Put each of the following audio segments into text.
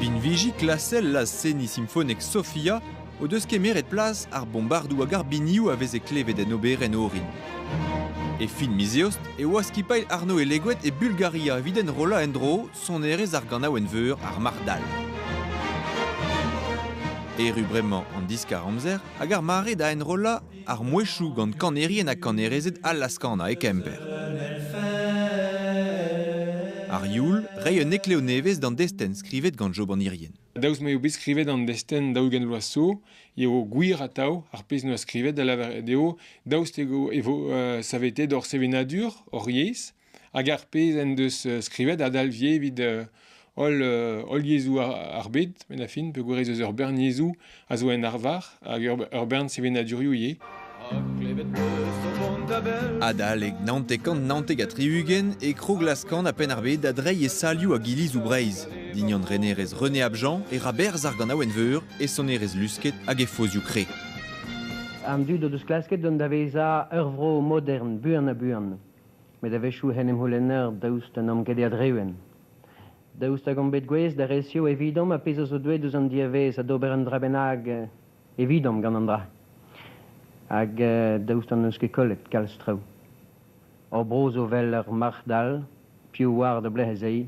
Binviji klasel laz-seniñ simfonek Sofia o deus kemeret plas ar bombardoù hag ar binioù a veze klevet en oberenn orin. E fin miz Eost e oa skipailh Arno Eleguet e Bulgaria evit enrollañ en-dro sonerezh ar ganaouenn-veur Ar Marc'h Dall. Erru bremañ an diskar-amzer hag ar mare da enrollañ Ar mouezhioù gant kanerien ha kanerezed allas kanañ e Kemper. Ar youl, reiñ un eklev nevez d'an destenn skrivet gant Job an Irien. Daoust m'eo bet skrivet an destenn daou-ugent vloaz zo, eo gwir atav ar pezh n'oa skrivet, da lavaret eo daoust eo e vo uh, savetet hor sevenadur, hor yezh, hag ar pezh en deus skrivet a dalvje evit holl, holl yezhoù ar bed, met a fin peogwir ez eus ur bern yezhoù a zo en arvar hag ur bern sevenadurioù ivez. Adalek naontek-kant naontek ha tri-ugent e kroglaskan a-penn ar bed da dreiñ e salioù hag ilizoù Breizh. Dignan renerez René Abjean e ra berzh ar ganaouenn-veur, e sonerezh lusket hag e fozioù kre. An dud o deus klasket dont da vezañ ur vro modern buan-ha-buan. met a-wechoù hen em c'houlenner daoust d'an amged a-dreñv. Daoust hag omp bet gouest da resev evidomp ar pezh a zo deuet eus an diavaez ha d'ober un dra bennak evidomp gant an dra? Hag daoust hon eus ket kollet kalz traoù? Hor bro zo 'vel ur marc'h dall, piv oar da belec'h ez ay?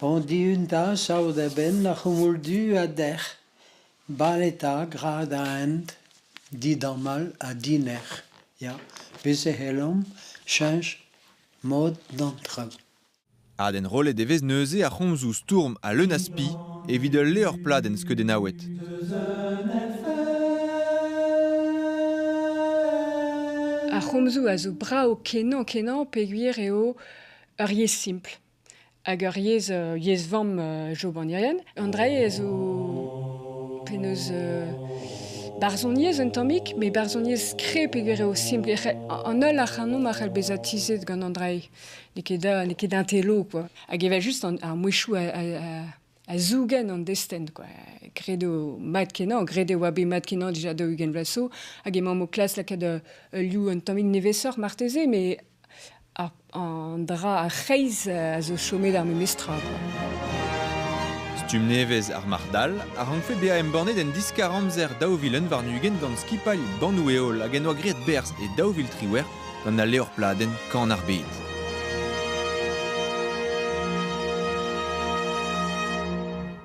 Andiun da saout a-benn ar c'houmoul-du a dec'h, bale 'ta gra da hent, didamall ha dinec'h, ya, bez' e c'hellomp cheñch mod d'an traoù. Adenrollet e vez neuze ar c'homzoù stourm ha leun a spi evit ul levr pladenn skeudennaouet. Ar c'homzoù a zo brav kenañ-kenañ peogwir eo ur yezh simpl, Hag ur yezh, yezh-vamm jobanirien. An dra-se zo penaos barzhoniezh un tammig, met barzhoniezh skreb eget eo simpl. An holl ac'hanomp a c'hell bezañ tizhet gant an dra-se. N'eo ket da n'eo ket intello, quoi. Hag evel-just ar mouezhioù a a zougen an destenn, quoi. Credo mat-kenañ, graet e oa bet mat-kenañ dija daou-ugent vloaz so, hag emaomp o klas lakaat euh, ul liv un tammig nevesoc'h marteze, mais an dra ar c'hreiz euh, a zo chomet ar memes tra. Stumm nevez ar marc'h-dal a rankfe bezañ embannet en diskar amzer daou vilen warn-ugent gant skipailh Bannoù-Heol hag en oa graet berzh e daou vil triwec'h gant al levr-pladenn Kan ar Bed.